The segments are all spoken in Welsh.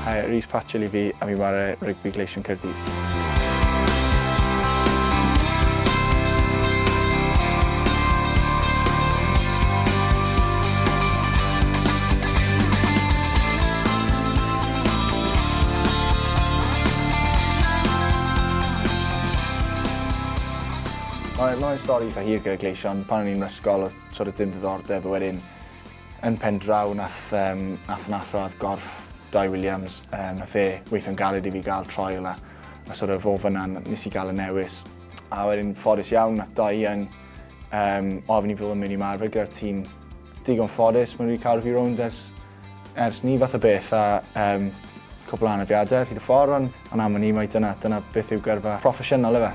Hi, Rhys Patchell i fi a fi'n ware rygbi Gleision Caerdydd. Mae, mae stori eitha hir gyda Gleision. Pan o'n i'n ysgol, oedd sort of dim diddordeb, a wedyn Yn pen draw nath yym nath nath radd gorff Dai Williams yym nath e weithio'n galed i fi ga'l trial a a sort of o fynna n- nes i ga'l y newis a wedyn ffodus iawn nath Dai yn yym ofyn i fi fod yn myn' i marfer gyda'r tîm digon ffodus ma' n'w 'di cadw fi rownd ers ers 'ny fath o beth a yym cwpwl o anafiade ar hyd y ffor on' Ond am wn i mai dyna, dyna beth yw gyrfa proffesiynol ife?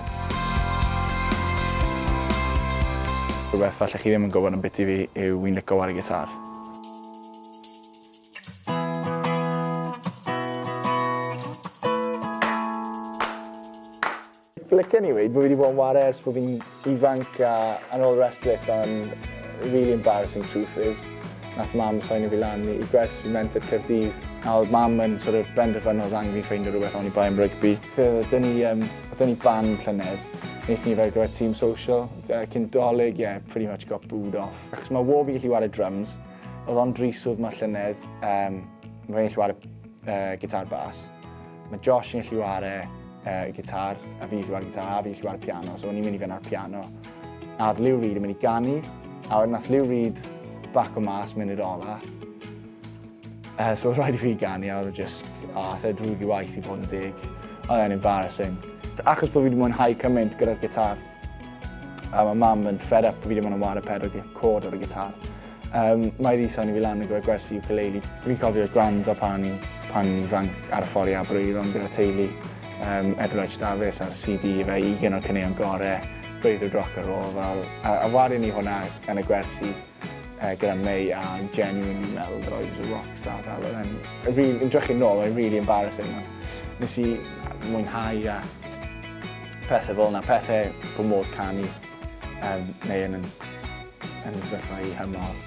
Rhywbeth falle chi ddim yn gwybod am biti fi yw fi'n lico ware gitar. Licen i weud bo' fi 'di bod yn ware ers bo' fi'n ifanc a and all the rest of it ond the really embarrassing truth is nath mam signo fi lan i gwersi Menter Caerdydd a odd mam yn sort of benderfynu odd angen fi ffeindio rwbeth oni bai am rygbi. Fe oedd 'da ni yym oedd 'da ni band llynedd nethon ni fe ar gyfer tîm social yy cyn dolig ie pretty much got booed off achos ma' wal fi gallu ware dryms odd o'n drist swydd 'ma llynedd yym ma' fe'n gallu ware yy gitar bas Mae Josh yn gallu ware uh, gitar, a fi llwywa'r gitar, a fi llwywa'r piano, so o'n i'n mynd i fynd ar piano. A oedd Lou Reed yn mynd i ganu, a wedyn nath Lou Reed bac o mas mynd i'r ola. Uh, so oedd rhaid i fi ganu, a oedd e just, o, oh, oedd e drwg i waith i fod yn deg. Oedd e'n embarrassing. Achos bod fi wedi mwynhau cymaint gyda'r gitar, A mae mam yn fed up bod fi ddim yn wario pedal cord ar y gitar. Um, mae wedi soni fi lan yn gwybod gwersi ukulele. Fi'n cofio gwrando pan, pan rhan ar y ffordd i Abereiron gyda teulu. Um, Edward Davies ar CD fe i gen o'r cyneuon gorau, breuddwyd rock and roll fel. A, a wario ni hwnna yn y gwersi. uh, gyda May a genuinely meddwl that I was a rock star fel oedd e'n... Really, yn drychu nôl, oedd really embarrassing. Nes i mwynhau a pethau fel yna, pethau bod modd canu um, neu yn, yn y sefyllfa i hymol.